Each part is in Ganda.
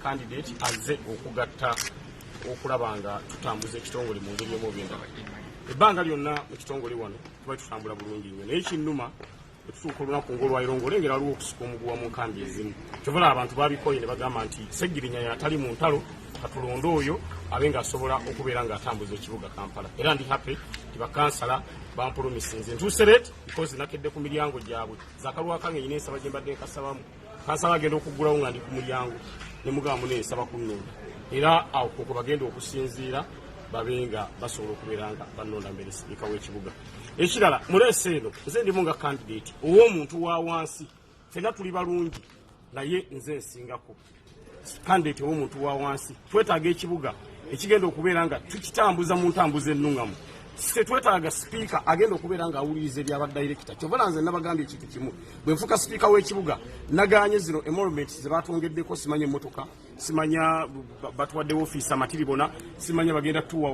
Candidate azze okugatta okulaba nga tutambuza ekitongole mu ngeri omu obendaba ebbanga lyonna mu kitongole wano tuba tutambula bulungi nnyo naye kinnuma etutuuka olunaku ngaolwaliro ngaolengera aliwo okusuka omuguwa mu nkambi ezimu kyovala abantu babikoye ne bagamba nti segirinya yatali mu ntalo katulonde oyo abe ngaasobola okubeera ngaatambuza ekibuga kampala era ndi happy ti bakansala bampolomisinze ntusereet because nakedde ku miryango gyabwe zakalwakange nyina ensaba gye mbadde nkasabamu kansala agenda okuggulawo nga ndi ku mulyango ne mugamba mune nsaba kunnonda era awo koko bagenda okusinziira babe nga basobola okubeera nga bannonda mbere sipiika w'ekibuga ekirala muleesa eno nze ndimu nga kandidate ow'omuntu wa wansi fenna tuli balungi naye nze nsingako kandidate w'omuntu wa wansi twetaaga ekibuga ekigenda okubeera nga tukitambuza mu ntambuza ennuŋamu tetwetaaga sipiika agenda okubeera nga awuliriza ebyaba dayirekita kyobola nze nabagambye ekintu kimu bwe nfuka sipiika w'ekibuga naganye zino emolumenti ze batongeddeko simanya emmotoka simanya batuwadde ofiisi amatiribona simanya bagenda tuwa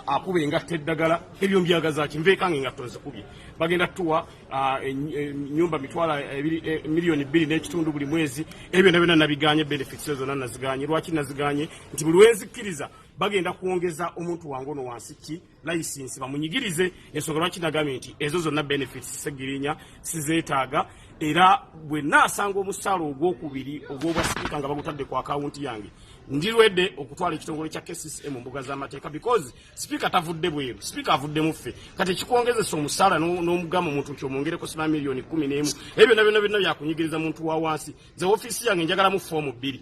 akuba engatta eddagala ebyo mbyagazaki nveekange nga tonzikubye bagenda tuwa Ah, enyumba mitwala eh, miliyoni bbiri n'ekitundu buli mwezi ebyo byona byona nabiganye benefits ezo zona naziganye lwaki naziganye nti buli wenzikkiriza bagenda kwongeza omuntu wange ono wansi ki layisinsi bamunyigirize ensonga lwaki nagambye nti ezo zonna benefits segirinya sizeetaaga era bwe naasanga omusaala ogwokubiri ogwobwa sipiika nga bagutadde ku akawunti yange ndirwedde okutwala ekitongole kya kcca mu mbuga z'amateeka because Sipiika tavudde bweru, sipiika avudde muffe. Kati ekikwongezesa omusaala n'omugamba omuntu nti omwongereko siba miliyoni kkumi n'emu ebyo byonna byonna byonna byakunyigiriza muntu wa wansi. Nze woofiisi yange njagalamu foomu bbiri.